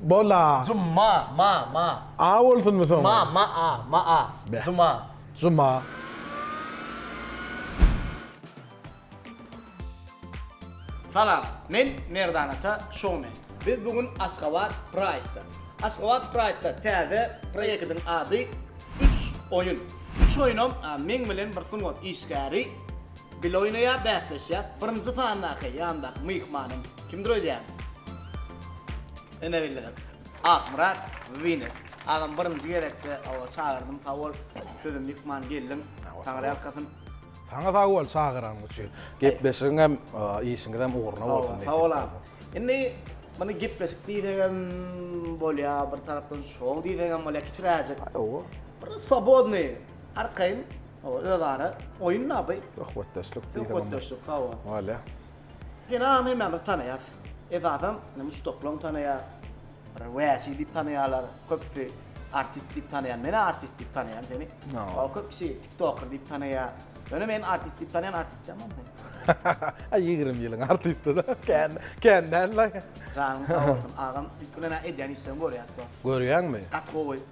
Bola. Juma, ma, ma. A bolsunmy soňy? Ma, ma-a, ma-a. Beh. Juma. Juma. Salam, men Merdan ata showmen. Biz bu gün Aşgabat Pride-da. Aşgabat Pride-da täze proýektiň ady Üç oýun. Üç oýunam meň bilen bir sungat işgäri. Bile oýnaýar, bäsleşýär. Birinji sandaky, ýandaky myhmanym. Kimdir öýdýäň? Ene bildirin. Akmyrat Wines. Agam birinji gezekde oba çagyrdym sag bol. Sözüm myhman geldiň. Taňry ýalkasyn. Saňa sag bol çagyranyň üçin. Gepleşigiňem, işiňizem ugruna bolsun. Sag bol agam. Indi muny gepleşik diýsegem bolýar, bir tarapdan şou diýsegem bolýar, kiçiräjik. Hawa. Bir swobodnyý. Arkaýyn, hawa, özara oýun da bu. Söhbetdeşlik diýsem. Söhbetdeşlik, hawa. Wala. Ýene agam hemmämiz tanaýas. Esasan, indi muşdaklaň tanaýar. Bir wäşi diýip tanaýarlar, köpüsi artist diýip tanaýar. Men-ä artist diýip tanaýan seni. Hawa, köpüsi tiktoker diýip tanaýar. Ýöne men artist diýip tanaýan artist däl mam sen. A ýigrimi ýylyň artisti-da, kän, kän däl-le. Janyň sag bolsun, agam. Ilki bilen-ä edýän işleňi görýäs, dost. Görýäňmi? Gaty gowy.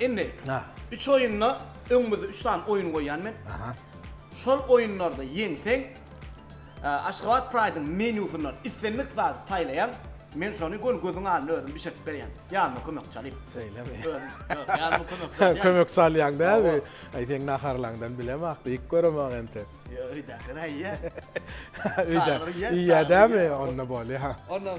Indi üç oýunda öňümizde üç sany oýun goýýan men. Şol oýunlarda ýeňseň, Aşgabat Pride-yň menýusyndan islendik zady saýlaýaň, men şony göni gözüň alnynda özüm bişirdip berýän. Ýanyma kömekçi alyp. Şeýlemi? Ýok, ýanyma kömekçi alýan. Kömekçi alýaň däbi? Aý, seň naharlaňdan bilemok, diýip göremok enti. Ýok, öýdäkiler aýýa. Öýdäkiler iýýä dämi? Onda bolýa. Onda.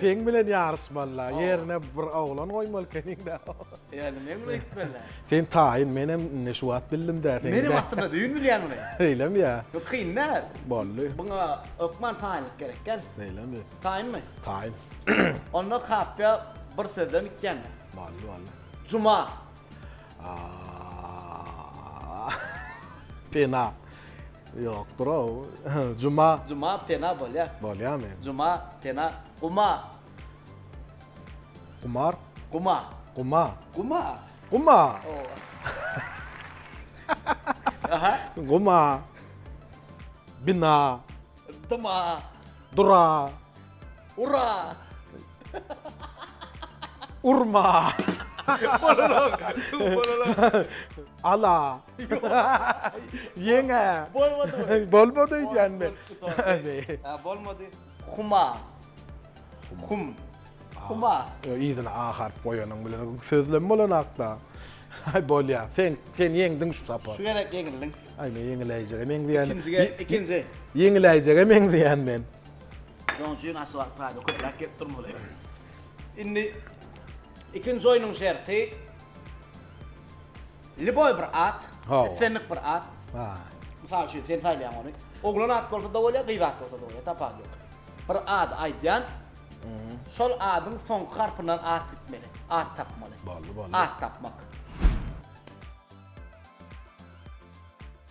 Seň bilen ýaryşmalyla, ýerine bir oglan goýmaly ekeniň-dä. Ýöne men muny etmelä. Sen taýyn, menem indi şu wagt bildim dä seni. Menem aslynda düýn bilýän muny. Şeýlemi ýa? Bu kyn däl. Boldy. Buňa hökman taýynlyk gerek ekeni. Şeýlemi? Taýynmy? Taýyn. Onda kapýa bir sözden gitýän. Boldy, boldy. Juma. Aaa. Pena. Ýok bro. Juma. Juma pena bolýa. Bolýamy? Juma pena guma. Gumar. Guma. Guma. Guma. Guma. Aha. Guma. Bina. Dyma. Dura. Ura! Urma! Bololok! Bololok! Ala! Ýeňe! Bolmady bu! Bolmady öýdýänmi? Hä, bolmady. Huma. Hum. Huma. Ýok, yzyna a harp goýanyň bilen sözlem bolanakda. Aý, bolýar. Sen, sen ýeňdiň şu sapar. Şu gezek ýeňildiň. Aý, men ýeňiläýjege meňzeýän. Ikinjige, ikinji. Ýeňiläýjege meňzeýän men. Şonuň üçin asfalt paýda köpräk gelip durmaly. Indi ikinji oýnuň şerti Liboy bir at, islendik bir at. Ha. Mysal üçin sen saýlaýaň ony. Oglan at bolsa da bolýar, gyz at bolsa da bolýar, tapawudy ýok. Bir at aýdýan. Şol adyň soňky harpyndan at gitmeli. At tapmaly. Boldy, boldy. At tapmak.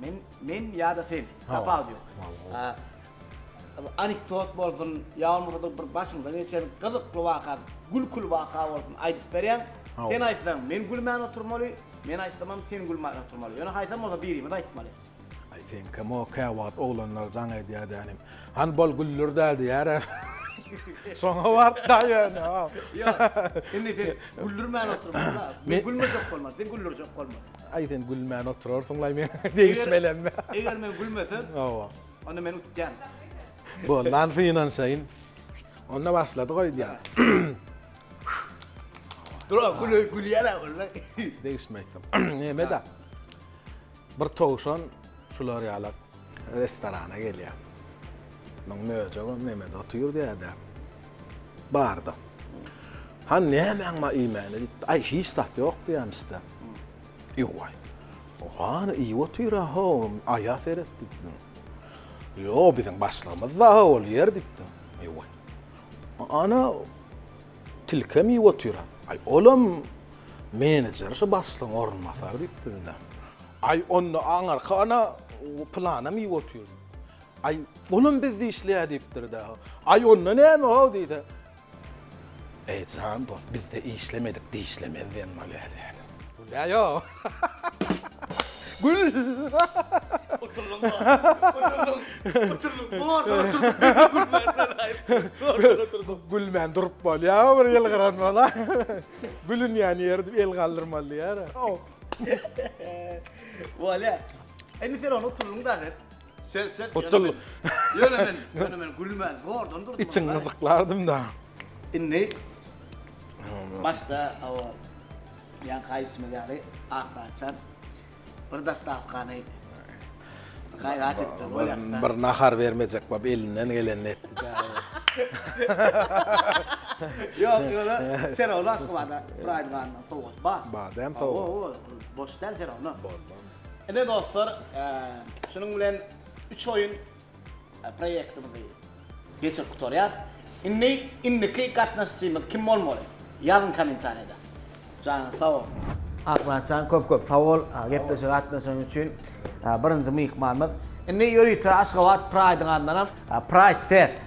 Men men ýa-da sen. Tapawudy ýok. Anekdot bolsun, ýa bolmasa-da bir başyňdan geçen gyzykly waka, gülküli waka bolsun aýdyp berýäň. Sen aýtsaň men gülmän oturmaly, men aýtsamam sen gülmän oturmaly. Ýöne haýsam bolsa birimiz aýtmaly. Aý sen kim o käwagt oglanlar jaň edýär dänim. Hany bol güldir dä diýär. Şoňa bart da ýöne. Ýok. Indi sen güldirmän oturmaly. Men gülmejek bolmaly, sen güldirjek bolmaly. Aý sen gülmän oturarsyňlaý men degişmelem. Eger men gülmesem. Hawa. Onda men utýan. Boldan synanşaýyn. Onda başlady goý diýýän. Durap gülüp gülýäne bolsa. Degişmeýdim. Nämeda? Bir towşan şular ýalak restorana gelýär. Muň möjegem nämede otyr diýýärdi. Bardy. Han nämäň bar iýmäne diýipdi. Aý hiç zat ýok diýýämişdi. Ýowaý. Hany iýip otyr-a ho, aýa seret diýdim. Ýo, biziň başlygymyz-da ol ýer diýdim. Ýowaý. Ana, tilkem iýip otyr-a. Aý, olam menejer şu başlygyň orunbasary diýipdir-de. Aý, onda aňyrky ana pylanam iýip otyr. Aý, olam bizde işleýär diýipdir-de. Aý, onda näme-ow diýdi. Eý jan dost bizde işlemedik dişlemez diýen bolýar. Gülýä ýo. Gül. Oturylyň bar. Oturylyň. Oturylyň. Bu orta oturylyň. Gülmän durup bolýa bir ýyl gyran bola. Gülün ýany ýer edip el galdyrmaly diýýär. Bolýa. Indi sen onu oturylyň da. Çek çek. Gutul. Ýöne men, ýöne men gülmän zordan durdum. Içiň gyjyklardym da. Indi başda o ýan kaýsymyz ýaly akbaçan bir dastawkany gaýrat etdi. Bir nahar bermejek bap elinden gelenini etdi. Ýok, ýöne Ferowna Aşgabada bir aýdym andan sowgat bar. Bar, däm sowgat. Boş däl Ferowna. Bar, bar. Ine dostlar, şunuň bilen üç oýun proýektimizi geçirip gutarýas. Indi indiki gatnaşyjymyz kim bolmaly? Ýazyň kommentariýada. Janyňyz sag bolsun. Akmyratjan köp köp sag bol gepleşige gatnaşan üçin. Birinji myhmanymyz. Indi ýörite Aşgabat Praýdyň adyndanam Praýd Fest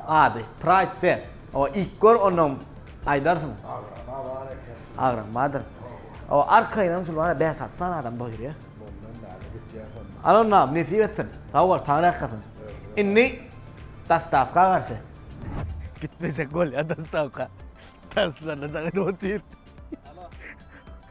Ady, Pride Fest. O, ilk gör, onnoň aýdarsyň. Agrama bar eken. Agram bardyr. O, arkaýynam şul bar-a, bäş-alty sany adam doýurýa. Mundan bäri gitýäs onda. Alynam, nesip etsin. Sag bol, Taňry ýalkasyn. Indi dostawka garşy. Gitmesek bolýa dostawka. Tanslanyjak edip otyr.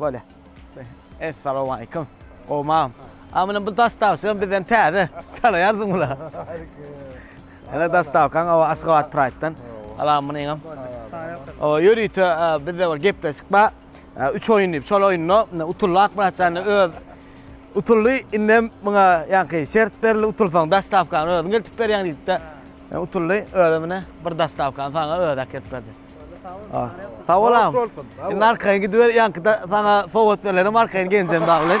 Bolýa. Essalowmaleýkum. Gowmam. A muny bu dostawçam bizden täze. Tanaýarsyň bula. Ene dostawkaň o Aşgabat Praýtdan. Alam muny hem. O ýörite bizde bir gepleşik bar. Üç oýun diýip, şol oýunda utuldy Akmyratjan öz utuldy. Indi hem muňa ýaňky şert berildi, utulsaň dostawkany özüň eltip berýäň diýip-de. Utuldy. Özüm ine bir dostawkany saňa özi äkidip berdi. Ah. Sag bol agam. Indi arkaýyn gidiber, ýaňkyda saňa sowgat berlerim, arkaýyn geljem dagy bilen.